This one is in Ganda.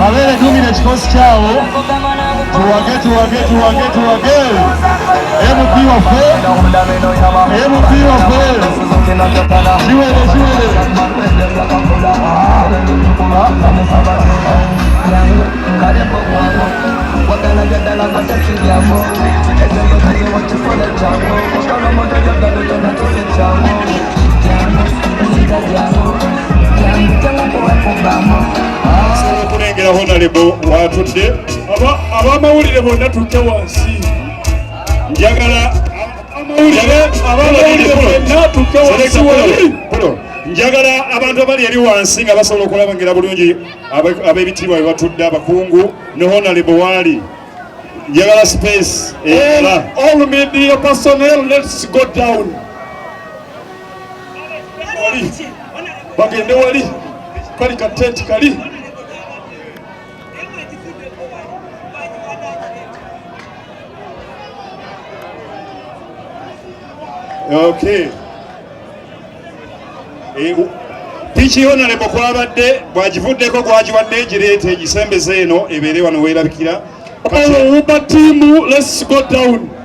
Mabere tumira ekikosi kyawo tuwage tuwage tuwage tuwage MP waffe MP waffe kiwere kiwere okulengera honalebo watudde abamawulire bonna tutte wansi njagala njagala abantu abali eri wansi nga basobola okulabangira bulungi ab'ebitiibwa bye batudde abakungu ne honalebo waali njagala space all media personnel let's go down bagende wali kali katenti kali okay eh, piki yonalebo kwabadde bwagivuddeko gwagiwadde egireeta egisembeza eno ebeere wano weerabikira obuba tiimu let's go down